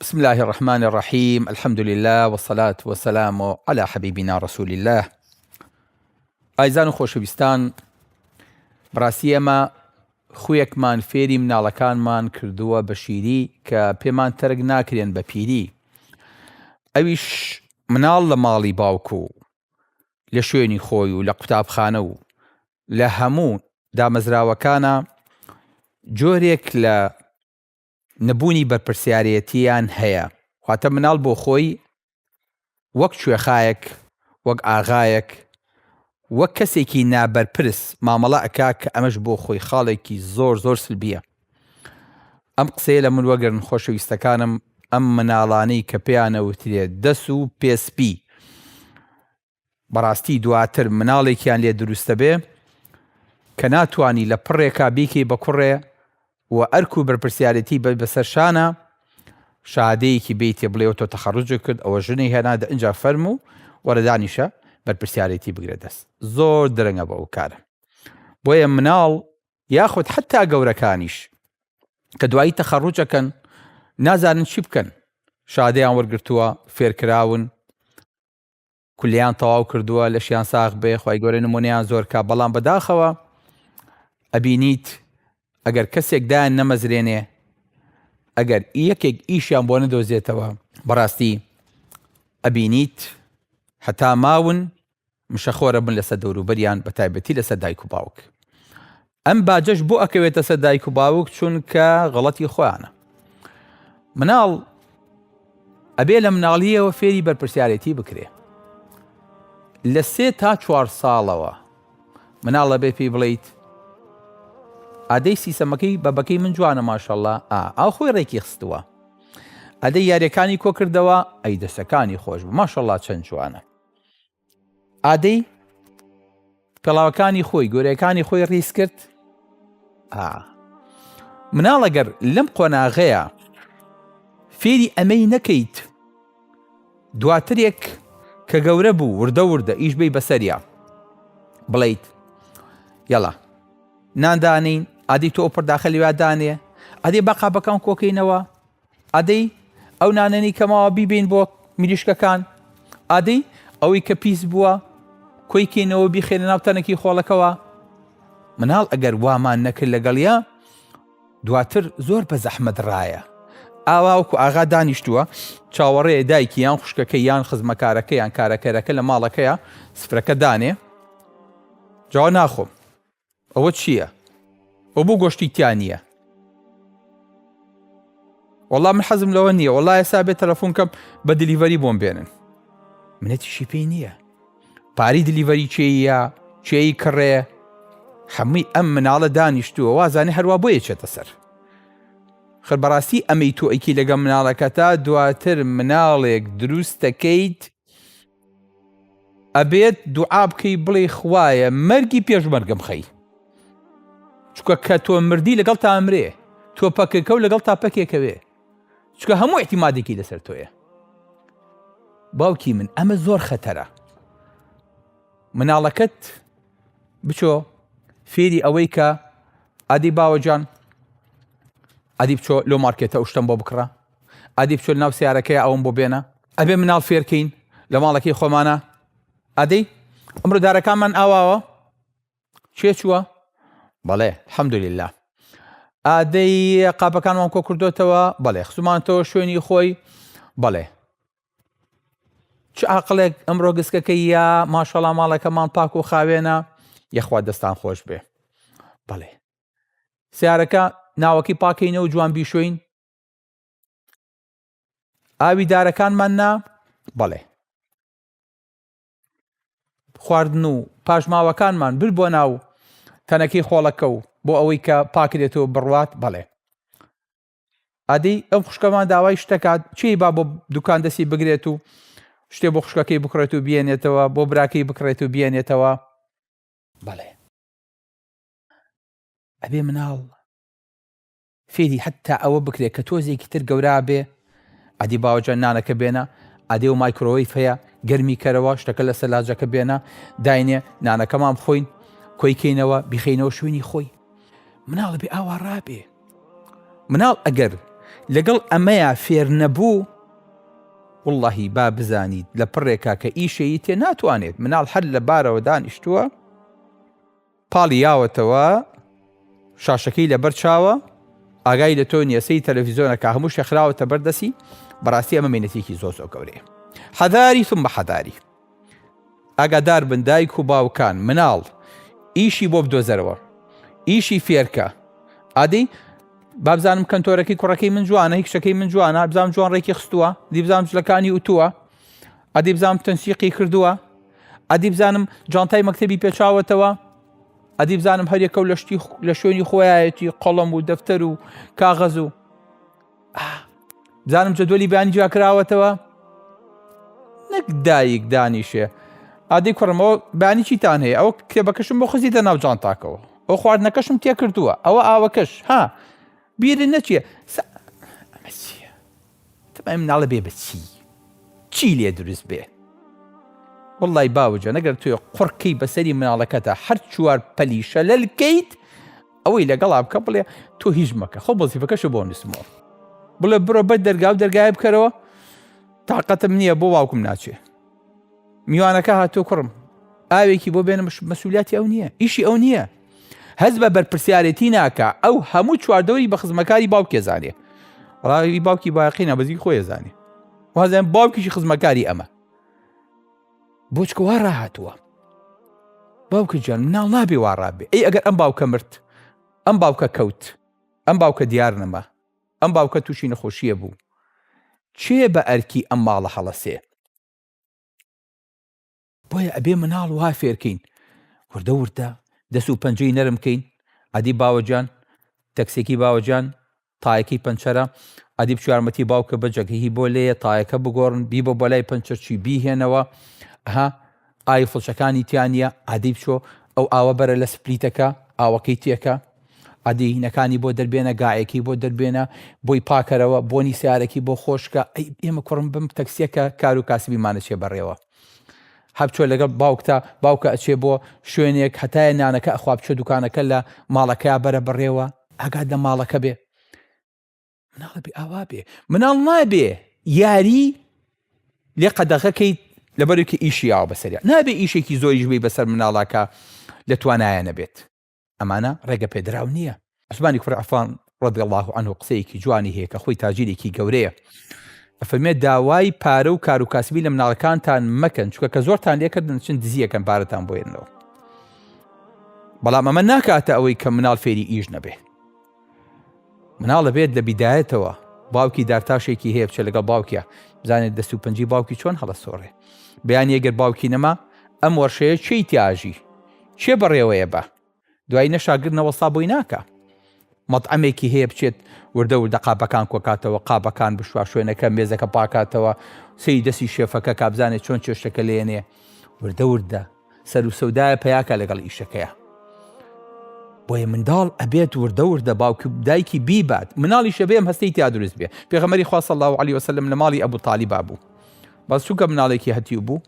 بسم اللە الرحمن الرحیم الحمد للە والصلاة والسلام علی حبیبنا رسول اللە ئایزان و خۆشەویستان بەڕاستی ئێمە خویەکمان فێری مناڵەکانمان کردووە بە شیری کە پێمان تەرک ناکرێن بە پیری ئەویش مناڵ لە ماڵی باوک و لە شوێنی خۆی و لە قوتابخانە و لە هەموو دامەزراوەکانە جۆرێک لە نەبوونی بەرپرسیارێتییان هەیە، واتە مناڵ بۆ خۆی وەک کوێخایەک، وەک ئاغایەک، وەک کەسێکی نابەرپرس مامەڵە ئەکا کە ئەمەش بۆ خۆی خاڵێکی زۆر زۆر سلبییە. ئەم قسەیە لە من وەگرن خۆشەویستەکانم، ئەم مناڵانەی کە پێیان ئەوترێ دەس و پێ سپی، بەڕاستی دواتر مناڵێکیان لێ دروست دەبێ کە ناتوانی لە پڕێکا بیکەی بە کوڕێ و ئەرک و بەرپرسیارێتی بە بەسەر شانە شادەیەکی بیتێ بڵێەوە تۆ تەخەڕجێک کرد ئەوە ژنی هێنا دە ئەجا فەرم و وەرەدانیشە بەرپرسیارێتی بگرێت دەست زۆر درەنگە بە ئەو کارە بۆیە مناڵ یاخود حتا گەورەکانیش کە دوایی تەخەڕوجەکەن نازانن چی بکەن شادەیان وەرگتووە فێرکراون کولیان تەواو کردووە لەشیان ساغ بێ خی گەورە نمونیان زۆر کا بەڵام بەداخەوە ئەبینیت ئەگەر کەسێک دایان نەمەزرێنێ ئەگەر یەکێک ئیشیان بۆ نەدۆزێتەوە بەڕاستی ئەبینیت هەتا ماون مشەخۆرە بن لەسەر دەوروبەریان بە تایبەتی لەسەر دایک و باوک ئەم باجەش بۆ ئەکەوێتە سەر دایک و باوک چونکە غەڵەتی خۆیانە مناڵ ئەبێ لە مناڵیەوە فێری بەرپرسیارەتی بکرێ لە سێ تا چوار ساڵەوە مناڵە بێ پێی بڵیت ئادەی سیسەمەکەی بەبەکەی من جوانە ماشەڵە ئاو خۆی ڕێکی خستووە ئەدە یاریەکانی کۆکردەوە ئەی دەسەکانی خۆش بە ماشەڵا چەند جوانە ئادەی پێڵاوەکانی خۆی گۆرەکانی خۆی ڕیز کرد مناڵەگەر لەم قۆناغەیە فێری ئەمەی نەکەیت دواترێک کە گەورە بوو وردە وردە ئیش بی بەسەریا بڵیت یڵا ناندانین ئادی تۆ پرداخە لێوادانێ ئەدی بەقا بەکەم کۆکەینەوە ئادەی ئەو نانەنی کەماوە بیبین بۆ مریشکەکان ئادەی ئەوەی کە پیس بووە کۆی کەینەوە بیخێنە ناو تەنەکی خۆڵەکەەوە مناڵ ئەگەر وامان نەکرد لەگەڵە دواتر زۆر بە زەحمەت ڕایە ئاواوکو ئاغا دانیشتووە چاوەڕێ دایکی یان خوشکەکە یان خزمەکارەکە یان کارەکەرەکە لە ماڵەکەیە سفرەکە دانێ جا ناخۆم ئەوە چیە ئەو بۆ گۆشتی تیا نییە. وەڵام من حەزم لەوە نییە وەڵا ئێسا بێت تەلەفۆن کەم بە دلیڤەری بۆم بێنن منەتیشی پێی نییە پاری دلیڤەری چێە چێی کڕێ حەمووی ئەم مناڵە دانیشتووە وازانێ هەروە بۆ یەچێتە سەر خەر بەڕاستی ئەمەی تۆ ئەیکی لەگە مناڵەکەتا دواتر مناڵێک دروستەکەیت ئەبێت دوعا بکەی بڵێ خوایە مەرگی پێشمەرگم خەی چکە کە تۆ مردی لەگەڵ تا ئەمرێ تۆ پەکەکە و لەگەڵ تا پەکێکەوێ چکە هەموو احتیمادێکی لەسەر تۆیە باوکی من ئەمە زۆر خەتەرە مناڵەکەت بچۆ فێری ئەوەی کە ئادی باوەجان ئەدی بچۆ لۆ مارکێتە شتم بۆ بکڕە ئەدی بچۆ لەناو سەیارەکەیا ئەوەم بۆ بێنە. ئەبێ مناڵ فێرکەین لە ماڵەکەی خۆمانا ئەدەی ئەمرۆ دارەکانمان ئاواوە چێ چووە بەڵێ حەمدوللا ئادەی قاپەکانمان کۆ کردوتەوە بەڵێ خزمانتەوە شوێنی خۆی بەڵێ چ ئاقلێک ئەمڕۆ گسکەکە یا ماشەڵا ماڵەکەمان پاک و خاوێنە یەخوا دەستان خۆش بێ بەڵێ سیارەکە ناوەکی پاکەینە و جوان بیشوین ئاوی دارەکانمان نا بەڵێ خواردن و پاشماوەکانمان بر بۆ ناو تەنەکەی خۆڵەکە و بۆ ئەوەی کە پاکرێتەوە بڕوات بەڵێ ئەدی ئەم خوشکەمان داوای شتەکات چی با بۆ دوکان دەستی بگرێت و شتێ بۆ خوشکەکەی بکڕێت و بێنێتەوە بۆ براکەی بکڕێت و بێنێتەوە بەڵێ ئەبێ مناڵ فێری حەتتا ئەوە بکرێ کە تۆزێکی تر گەورا بێ ئەدی باوەجە نانەکە بێنە ئەدێ و مایکرۆوەی فەیە گەرمی کەرەوە شتەکە لە سەلاجەکە بێنە داینێ نانەکەمان بخۆین کۆیکەینەوە بیخینەوە شوێنی خۆی مناڵە بێ ئاوا ڕابێ مناڵ ئەگەر لەگەڵ ئەمەیە فێر نەبوو واللهی با بزانیت لە پڕێکا کە ئیشەیی تێ ناتوانێت مناڵ هەر لە بارەوە دانیشتووە پاڵی یاوەتەوە شاشەکەی لەبەر چاوە ئاگای لە تۆ نیە سەی تەلەڤیزۆنە کا هەموو شتێ خراوەتە بەر دەسی بەڕاستی ئەمە مینەتێکی زۆر زۆر گەورەیە حەداری ثم حەداری ئاگادار بن دایک و باوکان مناڵ ئیشی بۆ بدۆزەرەوە ئیشی فێرکە ئادەی بابزانم کەنتۆرەکەی کوڕەکەی من جوانە هیچەکەی من جوانە بزانام جوان ڕێکی خستووە دیبزانام جلەکانی وتووە ئەدی بزانم تەنسیقی کردووە ئەدی بزانم جانتای مەکتتەبی پێچاوەتەوە ئەدی بزانم هەرێکە و لە شتی لە شوێنی خۆیەتی قەڵم و دەفتەر و کاغەز و بزانم جدولی بانی جیاکراوەتەوە نەک دایک دانیشێ ئادی کوڕمەوە بانی چیتان هەیە ئەو کتێبەکەشم بۆ خزی دە ناوجان تاکەوە ئەو خواردنەکەشم تێکردووە ئەوە ئاوەکەش ها بیرن نەچیە تبعی مناڵە بێ بەچی چی لێ دروست بێ. وەڵڵای باوجان ئەگەر تۆ قوڕ کەی بەسەری مناڵەکەتا هەر چوار پەلی شەلەل کەیت ئەوەی لەگەڵا بکە بڵێ تۆ هیچ مەکە خۆ بەزیفەکەشە بۆ نووسمەوە بڵێ بڕۆ بەر دەرگا و دەرگایە بکەرەوە تاقەتم نییە بۆ باوکم ناچێ میوانەکە هاتۆ کوڕم ئاوێکی بۆ بێنم مەسوولیاتی ئەو نییە ئیشی ئەو نییە هەز بە بەرپرسیارەتی ناکە ئەو هەموو چواردەوری بە خزمەکاری باوکێ زانێ ڕاوی باوکی باقی نابزی خۆی زانێ وازیان باوکیشی خزمەکاری ئەمە بۆچکەوا ڕاهاتووە باوکە جان مناڵ نابێ واڕابێ ئەی ئەگەر ئەم باوکە مرد ئەم باوکە کەوت ئەم باوکە دیار نەما ئەم باوکە توشی نەخۆشیە بوو کێ بە ئەرکی ئەم ماڵە هەڵەسێ. بۆیە ئەبێ مناڵ وا فێرکەین وردە وردە دەس و پەنجەی نەرم کەین ئەدی باوەجان تەکسێکی باوەجان تایەکەی پەنچەرە ئەدی بچارمەتی باوکە بەجەگهی بۆ لێە تایەکە بگۆڕن بیبە بەلای پەنچەرچی بیهێنەوە ها ئای فڵچەکانی تیا نیە ئادەی بچۆ ئەو ئاوە بەرە لە سپلیتەکە ئاوەکەی تێکە ئادی هینەکانی بۆ دەربێنە گاعەکەی بۆ دەربێنە بۆی پاکەرەوە بۆنی سیارەکی بۆ خۆشکە ئەی ئێمە کوڕم بم تەکسیەکە کارو کاسبیمانە چێ بەڕێوە هەبچۆ لەگەڵ باوکتا باوکە ئەچێ بۆ شوێنێک هەتایە نانەکە ئەخوا بچۆ دوکانەکە لە ماڵەکەیا بەرە بەڕێوە ئاگات لە ماڵەکە بێ مناڵە بێ ئاوا بێ مناڵ نابێ یاری لێ قەدەغەکەیت لەبەرێکی ئیشی یاوە بەسەریا نابێ ئیشێکی زۆریش بی بەسەر مناڵاکە لە توانایە نەبێت ئەمانە ڕێگە پێدراو نییە عوسمانی کوڕ عفان ڕەدی الله عنه قسەیەکی جوانی هەیە کە خۆی تاجیرێکی گەورەیە ئەفەرمێ داوای پارە و کار و کاسبی لە مناڵەکانتان مەکەن چکە کە زۆرتان لێکردن چند دزیەکەن پارەتان بۆێنەوە بەڵام ئەمە ناکاتە ئەوەی کە مناڵ فێری ئیش نەبێ مناڵ ئەبێت لە بیدایەتەوە باوکی دارتاشێکی هەیە بچێت لەگەڵ باوکە بزانێت دەست و پنجی باوکی چۆن هەڵەسۆڕێ بیان یەگەر باوکی نەما ئەم وەرشەیە چی تیاژی چێ بەڕێوەیە بە دوای نەشاگر نەوەستا بۆی ناکە مەطعمێکی هەیە بچێت وردە وردە قاپەکان کۆکاتەوە قاپەکان بشوا شوێنەکە مێزەکە پاکاتەوە سەی دەستی شێفەکە کابزانێت چۆن چێشتەکە لێنێ وردە وردە سەرو سەودایە پیاکە لەگەڵ ئیشەکەیا بۆیە منداڵ ئەبێت وردە وردە باوک دایکی بیبات مناڵیشە بێم هەستی تیا دروست بێ پێغەمەری خوا صلی الله علیه وسلم لە ماڵی ئەبو طالبا بوو بەس چونکە مناڵێکی هەتیو بوو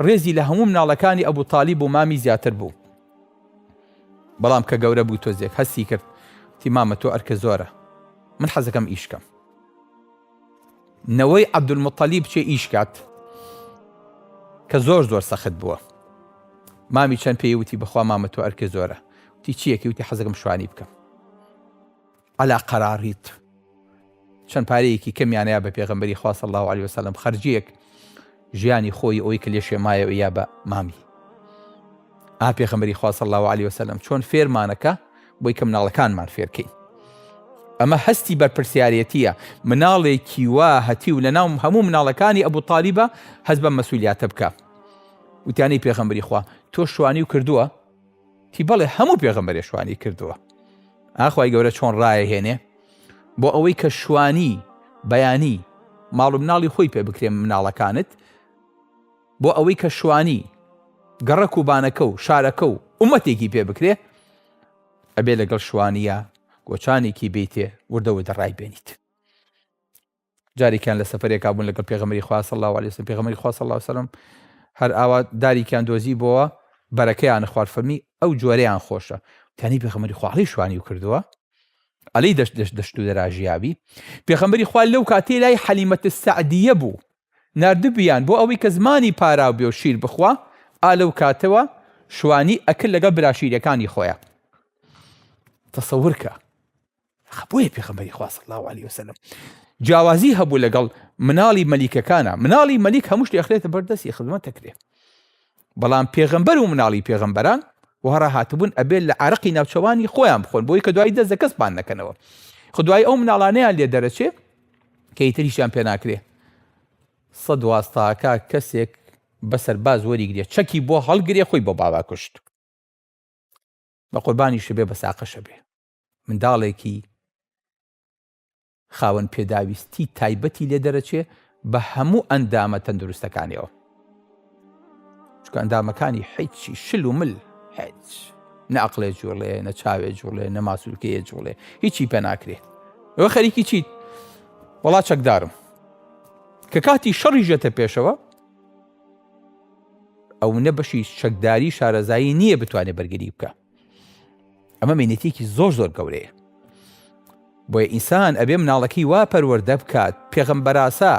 ڕێزی لە هەموو مناڵەکانی ئەبو طالب و مامی زیاتر بوو بەڵام کە گەورە بوو تۆزێک هەستی کرد تیمامە تۆ ئەرکە زۆرە من حەزەکەم ئیشکەم نەوەی عەبدولموتەلیب چێ ئیش کات کە زۆر زۆر سەخت بووە مامی چەند پێی وتی بەخوا مامە تۆ ئەرکێ زۆرە وتی چیەکی وتی حەزەکەم شوانی بکەم علا قەراڕیت چەند پارەیەکی کەمیانەیە بە پێغمبەری خواص الله عليه وسلم خەرجیەک ژیانی خۆی ئەوەی کە لێشێ مایەوە یا بە مامی ئا پێخەمەری خوا صلی الله علیه وسلم چۆن فێرمانەکە بۆی کە مناڵەکانمان فێرکەین ئەمە هەستی بەرپرسیارەتیە مناڵێکی وا هەتی و لە ناو هەموو مناڵەکانی ئەبوو تالیبە هەز بە مەسولیاتە بکە وتانی پێخەمبری خوا تۆ شوانی و کردووە تی بەڵێ هەموو پێغەمبەرێ شوانی کردووە ئاخوای گەورە چۆن ڕایە هێنێ بۆ ئەوەی کە شوانی بەیانی ماڵ و مناڵی خۆی پێ بکرێن مناڵەکانت بۆ ئەوەی کە شوانی گەڕەک و بانەکە و شارەکە و عومەتێکی پێ بکرێ ئەبێ لەگەڵ شوانیە گۆچانێکی بیتێ وردەوە دەڕای بێنیت جاریکیان لە سەفەرێکا بوون لەگەڵ پێغەمبەری خوا صلی اللە علیە وسلم پێغەمبەری خوا صلی اللە علیە وسلم هەر ئاوا داریکیان دۆزی بۆوە بەرەکەیان خوارد فەرمی ئەو جۆرەیان خۆشە تانی پێغەمبەری خوا علی شوانی کردووە علی دەشت دەشت دەشت و دەراژیابی پێغەمبەری خوا لەو کاتی لای حەلیمەت سعدیە بوو نردبیان بۆ ئەوەی کە زمانی پاراو بێ و شیر بخوا ئا لەو کاتەوە شوانی ئەکرد لەگەڵ براشیرەکانی خۆیان تەسەورکە بۆیە پێخەمبەری خوا صلی الله علیه وسلم جیاوازی هەبوو لەگەڵ مناڵی مەلیکەکانە مناڵی مەلیک هەمووش دەخرێتە بەردەستی خزمەت دەکرێت بەڵام پێغەمبەر و مناڵی پێغەمبەران وهڕا هاتبوون ئەبێت لە عراقی ناوچەوانی خۆیان بخۆن بۆی کە دوای دەست دەکەسمان نەکەنەوە خدای ئەو مناڵانەیان لێ دەرەچێ کە ئیتریشیان پێ ناکرێ سە دوازتاکە کەسێک بەسەر باز وەریگرێ چەکی بۆ هەڵگرێ خۆی بۆ باوا کوشت بە قوربانی شبێ بە ساقەشە بێ منداڵێکی خاوەن پێداویستی تایبەتی لێ دەرەچێ بە هەموو ئەندامە تەندروستەکانیەوە چکە ئەندامەکانی حیچی شل و مل هیچ نەعقلێ جوڵێ نە چاوێ جوڵێ نە ماسوولکەیە جوڵێ هیچی پێ ناکرێت ئەوە خەریکی چیت وڵا چەکدارم کە کاتی شەڕی ژێتە پێشەوە ئەو نە بەشی چەکداری شارەزایی نییە بتوانێت بەرگری بکە ئەمە مینەتێکی زۆر زۆر گەورەیە بۆیە ئینسان ئەبێ مناڵەکەی وا پەروەەردە بکات پێغمبەراسا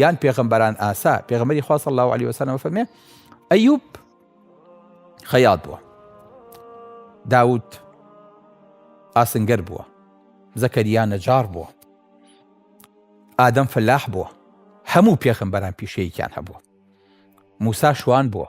یان پێغمبەران ئاسا پێغمەری خواست الله عليه وسلم فەرمێ ئەیوب خەیات بووە داوت ئاسنگەر بووە زەکەریا نەجار بووە ئادەم فەلاح بووە هەموو پێخمبەران پیشەیەکیان هەبووە موسا شوان بووە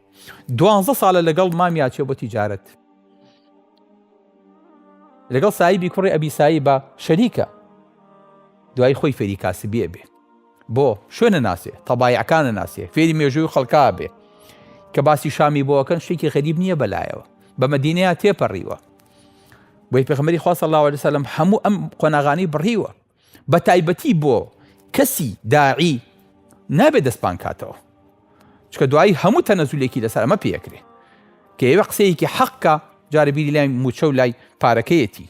دوانزە ساڵە لەگەڵ مامی ئاچێ بۆ تیجارەت لەگەڵ سایبی کوڕی ئەبی سایبە شەریکە دوای خۆی فێری کاسبیە بێ بۆ شوێنە ناسێ تەبایعەکانە ناسێ فێری مێژووی خەڵکا بێ کە باسی شامی بۆکەن شتێکی غەریب نییە بەلایەوە بە مدینەیە تێپەڕیوە بۆی پێخمەری خواستە لاوە لەسەلم هەموو ئەم قۆناغانی بڕیوە بەتایبەتی بۆ کەسی داعی نابێ دەستپان کاتەوە چکە دوایی هەموو تەنەزولێکی لەسەر ئەمە پێکرێ کە ئێوە قسەیەکی حەقکە جارە بیری لای موچە و لای پارەکەیەتی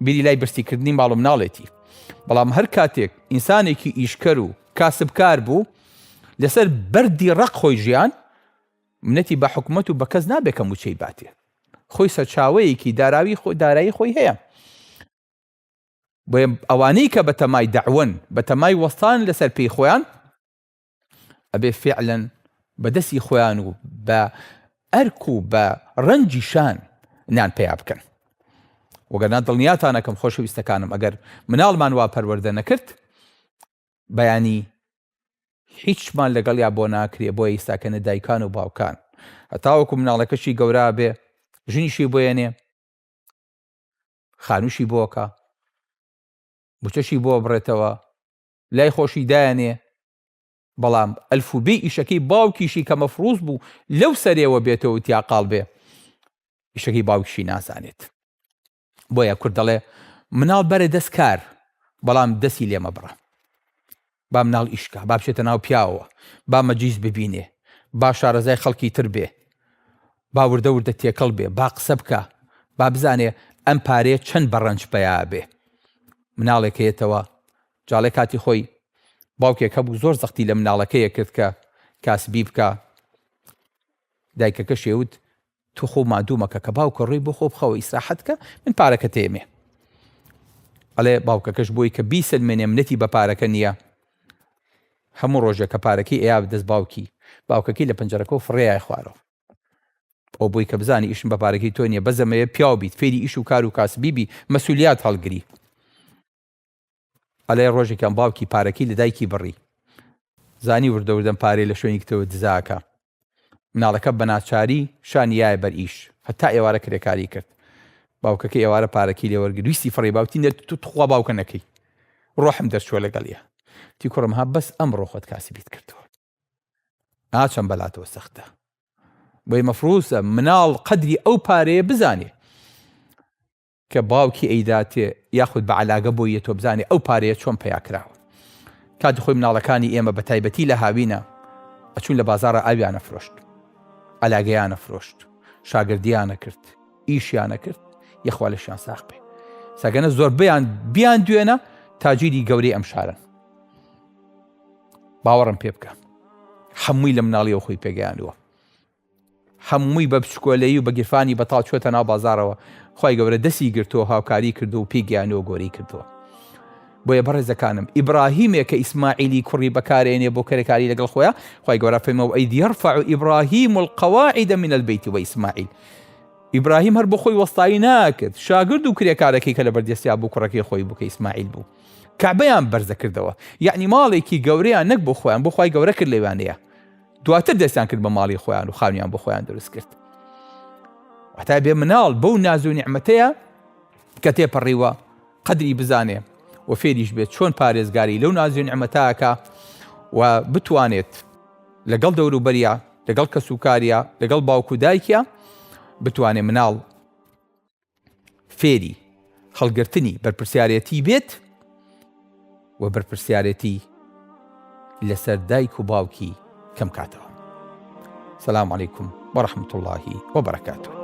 بیری لای برسیکردنی ماڵ و مناڵێتی بەڵام هەر کاتێک ئینسانێکی ئیشکەر و کاسبکار بوو لەسەر بەردی ڕق خۆی ژیان منەتی بە حکومت و بە کەس نابێکە موچەی باتێ خۆی سەرچاوەیەکی داراوی خۆ دارایی خۆی هەیە بۆیە ئەوانەی کە بەتەمای دەعوەن بەتەمای وەستان لەسەر پێی خۆیان ئەبێ فعلەن بە دەستی خۆیان و بە ئەرک و بە ڕەنجی شان نان پیا بکەن وەگەرنا دڵنیاتانەکەم خۆشەویستەکانم ئەگەر مناڵمان وا پەروەردە نەکرد بەیانی هیچمان لەگەڵ یا بۆ ناکرێ بۆ ئیستاکەنە دایکان و باوکان هەتاوەکو مناڵەکەشی گەورا بێ ژنیشی بۆیەنێ خانووشی بۆکە موچەشی بۆ بڕێتەوە لای خۆشی دایانێ بەڵام ئەلف و بێ ئیشەکەی باوکیشی کە مەفروز بوو لەو سەرێەوە بێتەوە تیاقال بێ ئیشەکەی باوکشی نازانێت بۆیە کورد دەڵێ مناڵ بەرە دەست کار بەڵام دەستی لێمە بڕە با مناڵ ئیشکا، با بچێتە ناو پیاوەوە، با مەجلیس ببینێ، با شارەزای خەڵکی تر بێ، با وردە وردە تێکەڵ بێ، با قسە بکا، با بزانێ ئەم پارەیە چەند بە ڕەنج پەیا ئەبێ. مناڵێک هەیەتەوە، جا ڵێ کاتی خۆی باوکێک هەبوو زۆر زەختی لە مناڵەکەی ئەکرد کە کاسبی بکا، دایکەکەشی ئەیوت تۆ خۆ مادوو مەکە کە باوکە ڕووی بۆ خۆ بخەوە ئیسراحەت کە من پارەکە تێمێ ئەڵێ باوکەکەش بۆی کە بیسەلمێنێ منەتی بە پارەکە نییە هەموو ڕۆژێک کە پارەکەی ئەیا دەست باوکی باوکەکەی لە پنجەرەکە و فڕێای خوارەوە ئەو بۆی کە بزانانی ئیشم بە پارەکەی تۆ نیە بەزەمەیە پیاو بیت فێری ئیش و کار و کاسبیبی مەسولیات هەڵگری ئەڵێ ڕۆژێکیان باوکی پارەکەی لە دایکی بڕی زانی وردە وردەم پارەی لە شوێنی کتەوە دزاکە مناڵەکە بە ناچاری شانی یایە بەر ئیش هەتا ئێوارە کرێکاری کرد باوکەکە ئێوارە پارەکی لێوەرگری ویستی فڕی باوتی نێت تو تخوا باوکە نەکەی ڕۆحم دەرچوە لەگەڵە تی کوڕم ها بەس ئەم ڕۆخۆت کاسی بیت کردووە ناچەم بەلاتەوە سەختە بۆی مەفروسە مناڵ قەدری ئەو پارەیە بزانێ کە باوکی ئەیداتێ یاخود بە عەلاگە بۆی یەتۆ بزانێ ئەو پارەیە چۆن پەیا کراوە کاتی خۆی مناڵەکانی ئێمە بە تایبەتی لە هاوینە ئەچون لە بازارە ئاویانە فرۆشت عەلاگەیانە فرۆشت شاگردیانە کرد ئیشیانە کرد یەخوا لەشیان ساخ بێ سەگەنە زۆربیان بیان دوێنە تاجیری گەورەی ئەم شارن باوەڕم پێ بکە هەمووی لە مناڵیەوە خۆی پێگەیانوە هەمووی بە بچکۆلەیی و بە گیرفانی بەتاڵ چۆتە ناو بازاڕەوە خوای گەورە دەستی گرتووە هاوکاری کردووە و پێی گەیانووە گۆری کردووە بۆیە بەڕێزەکانم ئیبراهیمێک کە ئیسماعیلی کوڕی بەکارێنێ بۆ کەرەکاری لەگەڵ خۆیان خوای گەورە فەیمە و ئەید یرفع ئیبراهیم القواعد من البیت و ئیسماعیل ئیبراهیم هەر بۆ خۆی وەستایی ناکرد شاگرد و کرێکارەکەی کە لە بەردەستیا بوو کوڕەکەی خۆی بوو کە ئیسماعیل بوو کەعبەیان بەرزە کردەوە یعنی ماڵێکی گەورەیان نەک بۆ خۆیان بۆ خی گەورە کرد لەوانەیە دواتر دەستیان کرد بە ماڵی خۆیان و خانویان بۆ خۆیان دروست کرد واتە بێ مناڵ بەو ناز و نیعممەتەیە کە تێپەڕیوە قدری بزانێ و فێریش بێت چۆن پارێزگاری لەو نازیێن ئەمەتاکە و بتوانێت لەگەڵ دەوروبەریا لەگەڵ کەسوکاریا لەگەڵ باوکو دایکە بتوانێت مناڵ فێری هەڵگرتنی بەرپرسیارێتی بێت و بەرپرسیارێتی لەسەر دایک و باوکی کەم کاتەوە سلام عیکم بە رحمت اللهی و بەرەکاتەوە